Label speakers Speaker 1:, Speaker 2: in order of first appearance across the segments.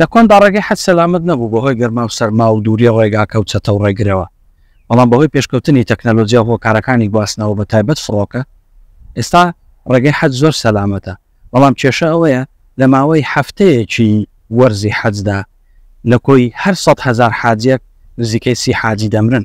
Speaker 1: لە کۆندا ڕێگەی حەج سەلامەت نەبوو بەهۆی گەرما و سەرما و دووریی ڕێگاکە و چەتە و ڕێگرەوە، بەڵام بەهۆی پێشکەوتنی تەکنەلۆجیا و هۆکارەکانی گواستنەوە بە تایبەت فڕۆکە، ئێستا ڕێگەی حەج زۆر سەلامەتە، بەڵام کێشە ئەوەیە لە ماوەی هەفتەیەکی وەرزی حەجدا لە کۆی هەر سەد هەزار حاجییەک نزیکەی سی حاجی دەمرن.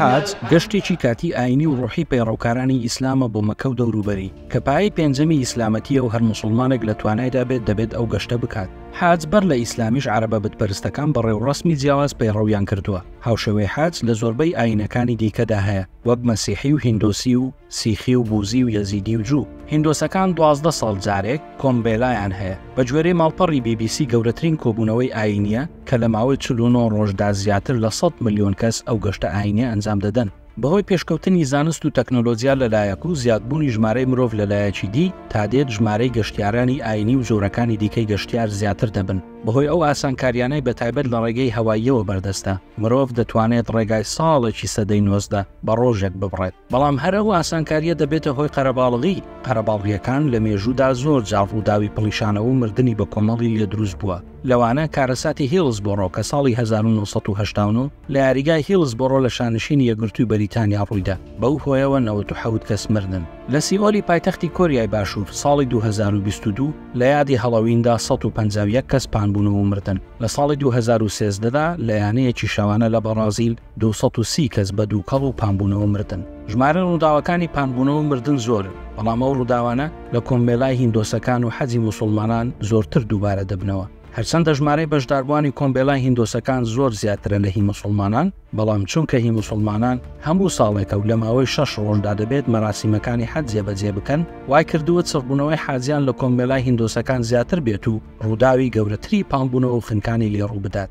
Speaker 2: حەج
Speaker 1: گەشتێکی کاتی ئاینی و ڕۆحی پەیڕەوکارانی ئیسلامە بۆ مەکە و دەوروبەری کە پایەی پێنجەمی ئیسلامەتیە و هەر مسلمانێک لە توانایدا بێت دەبێت ئەو گەشتە بکات حەج بەر لە ئیسلامیش عەرەبە بتپەرستەکان بە ڕێوڕەسمی جیاواز پەیڕەویان کردووە هاوشێوەی حەج لە زۆربەی ئاینەکانی دیکەدا هەیە وەک مەسیحی و هیندۆسی و سیخی و بوزی و یەزیدی و جوو هیندۆسەکان دوازدە ساڵ جارێک کۆمبێلایان هەیە بە گوێرەی ماڵپەڕی بی بی سی گەورەترین کۆبوونەوەی ئاینیە کە لە ماوەی چل و نۆ ڕۆژدا زیاتر لە سەد ملیۆن کەس ئەو گەشتە ئایینیە ئەنجام دەدەن. بەهۆی پێشکەوتنی زانست و تەکنۆلۆجیا لەلایەک و زیادبوونی ژمارەی مرۆڤ لەلایەکی دی، تادێت ژمارەی گەشتیارانی ئایینی و جۆرەکانی دیکەی گەشتیار زیاتر دەبن. بەهۆی ئەو ئاسانکاریانەی بەتایبەت لە ڕێگەی هەواییەوە بەردەستە، مرۆڤ دەتوانێت ڕێگای ساڵێکی سەدەی نۆزدە بە ڕۆژێک ببڕێت. بەڵام هەر ئەو ئاسانکاریە دەبێتە هۆی قەرەباڵغی. قەرەباڵغیەکان لە مێژوودا زۆر جار ڕووداوی پڵیشانەوە و مردنی بەکۆمەڵی لێدروست بووە. لەوانە کارەساتی هیڵسبۆڕۆ کە ساڵی هەزار و نۆ سەد و هەشتا و نۆ لە یاریگای هیڵسبۆڕۆ لە شانشینی یەکگرتووی بەریتانیا ڕوویدا، بەو هۆیەوە نەوەد و حەوت کەس مردن. لە سیئۆلی پایتەختی کۆریای باشوور ساڵی دوو هەزار و بیست و دوو لە یادی هەڵۆویندا سەد و پەنجا و یەک کەس پانبوون و مردن. لە ساڵی دوو هەزار و سێزدە دا لە یانەیەکی شەوانە لە بەڕازیل، دوو سەد و سی کەس بە دووکەڵ و پانبوونەوە مردن. ژمارەی ڕووداوەکانی پانبوونەوە و مردن زۆرن، بەڵام ئەو ڕووداوانە لە کۆمەڵای هیندۆسەکان و حەجی موسوڵمانان زۆرتر دووبارە دەبنەوە. هەرچەندە ژمارەی بەشداربووانی کۆمەڵای هیندۆسەکان زۆر زیاترە لە هی موسوڵمانان، بەڵام چونکە هی موسوڵمانان هەموو ساڵێکە و لە ماوەی شەش ڕۆژدا دەبێت مەراسیمەکانی حەج جێبەجێ بکەن، وای کردووە چڕبوونەوەی حاجیان لە کۆمەڵای هیندۆسەکان زیاتر بێت و ڕووداوی گەورەتری پانبوونەوە و خنکانی لێ ڕوو بدات.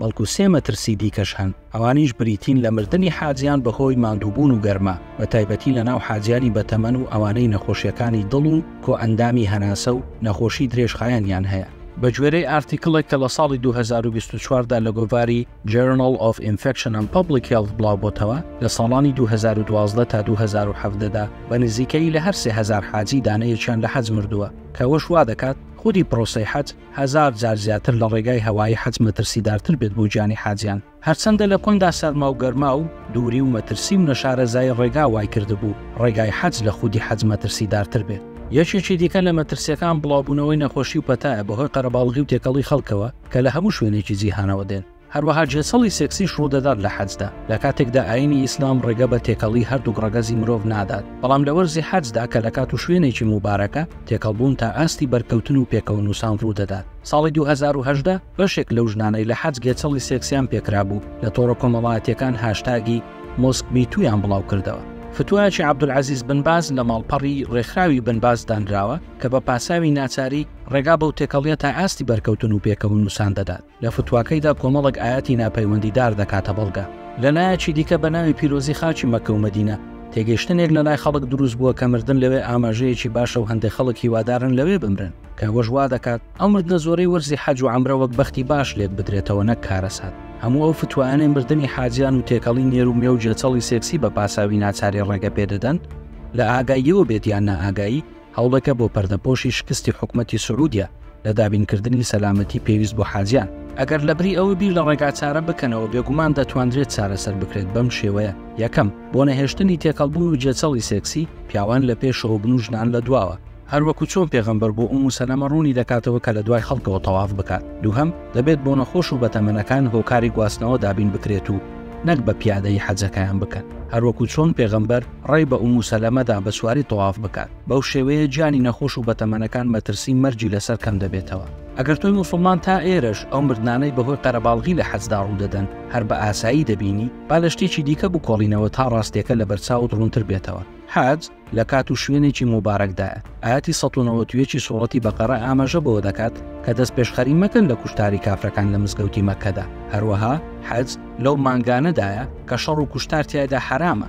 Speaker 1: بەڵکو سێ مەترسی دیکەش هەن، ئەوانیش بریتین لە مردنی حاجیان بەهۆی ماندووبوون و گەرما، بەتایبەتی لەناو حاجیانی بەتەمەن و ئەوانەی نەخۆشییەکانی دڵ و کۆئەندامی هەناسە و نەخۆشی درێژخایەنیان هەیە. بەگوێرەی ئارتیکڵێک کە لە ساڵی دوو هەزار و بیست و چوار دا لە گۆڤاری Journal of Infection and Public Health بڵاوبۆتەوە، لە ساڵانی دوو هەزار و دوازدە تا دوو هەزار و حەڤدە دا بە نزیکەیی لە هەر سێ هەزار حاجی دانەیەکیان لە حەج مردووە، کە ئەوەش وادەکات خودی پرۆسەی حەج هەزار جار زیاتر لە ڕێگای هەوایی حەج مەترسیدارتر بێت بۆ گیانی حاجیان، هەرچەندە لە کۆندا سەرما و گەرما و دووری و مەترسی و نەشارەزایی ڕێگا وای کردبوو ڕێگای حەج لە خودی حەج مەترسیدارتر بێت. یەکێکی دیکە لە مەترسیەکان بڵاوبوونەوەی نەخۆشی و پەتایە بەهۆی قەرەباڵغی و تێکەڵی خەڵکەوە کە لە هەموو شوێنێکی جیهانەوە دێن، هەروەها جنسەڵی سێکسیش ڕوودەدات لە حەجدا، لە کاتێکدا ئایینی ئیسلام ڕێگە بە تێکەڵی هەردووک ڕەگەزی مرۆڤ نادات، بەڵام لە وەرزی حەجدا کە لە کات و شوێنێکی موبارەکە، تێکەڵبوون تا ئاستی بەرکەوتن و پێکەوەنووسان ڕوودەدات. ساڵی دوو هەزار و هەژدە بەشێک لەو ژنانەی لە حەج گێچەڵی سێکسیان پێکرابوو، لە تۆڕە کۆمەڵایەتییەکان هاشتاگی MosqueMeToo یان بڵاوکردەوە. فتوایەکی عەبدولعەزیز بن باز لە ماڵپەڕی ڕێکخراوی بن باز دانراوە کە بە پاساوی ناچاری ڕێگا بەو تێکەڵییە تا ئاستی بەرکەوتن و پێکەوەنووسان دەدات. لە فتواکەیدا کۆمەڵێک ئایەتی ناپەیوەندیدار دەکاتە بەڵگە. لە لایەکی دیکە بە ناوی پیرۆزی خاکی مەککە و مەدینە، تێگەیشتنێک لە لای خەڵک دروست بووە کە مردن لەوێ ئاماژەیەکی باشە و هەندێک خەڵک هیوادارن لەوێ بمرن، کە ئەوەش وا دەکات ئەو مردنە زۆرەی وەرزی حەج و عەمرە وەک بەختی باش لێک بدرێتەوە نەک کارەسات. هەموو ئەو فتوایانەی مردنی حاجیان و تێکەڵی نێر و مێ و گێچەڵی سێکسی بە پاساوی ناچاری ڕێگە پێ دەدەن، لە ئاگاییەوە بێت یان نائاگایی، هەوڵێکە بۆ پەردەپۆشی شکستی حکومەتی سعودیە لە دابینکردنی سەلامەتی پێویست بۆ حاجیان. ئەگەر لەبری ئەوە بیر لە ڕێگاچارە بکەنەوە، بێگومان دەتواندرێت چارەسەر بکرێت بەم شێوەیە، یەکەم، بۆ نەهێشتنی تێکەڵبوون و جێچەڵی سێکسی، پیاوان لە پێشەوە بن و ژنان لە دواوە، هەروەکو چۆن پێغەمبەر بۆ ئومو سەلەمە ڕوونی دەکاتەوە کە لە دوای خەڵکەوە تەواف بکات، دووهەم، دەبێت بۆ نەخۆش و بەتەمەنەکان هۆکاری گواستنەوە دابین بکرێت و نەک بە پیادەیی حەجەکەیان بکەن، هەروەکو چۆن پێغەمبەر. ڕێی بە ئومو سەلەمە دا بە سواری تەواف بکات، بەو شێوەیە گیانی نەخۆش و بەتەمەنەکان مەترسی مەرگی لەسەر کەم دەبێتەوە. ئەگەر تۆی موسڵمان تا ئێرەش ئەو مردنانەی بەهۆی قەرەباڵغی لە حەجدا ڕوودەدەن هەر بە ئاسایی دەبینی، با لە شتێکی دیکە بکۆڵینەوە تا ڕاستییەکە لەبەرچاوت ڕوونتر بێتەوە، حەج لە کات و شوێنێکی موبارەکدایە، ئایەتی سەد و نەوەد و یەک ی سوڕەتی بەقەرە ئاماژە بەوە دەکات کە دەستپێشخەری مەکەن لە کوشتاری کافرەکان لە مزگەوتی مەککەدا، هەروەها حەج لەو مانگانەدایە کە شەڕ و کوشتار تیایدا حەرامە.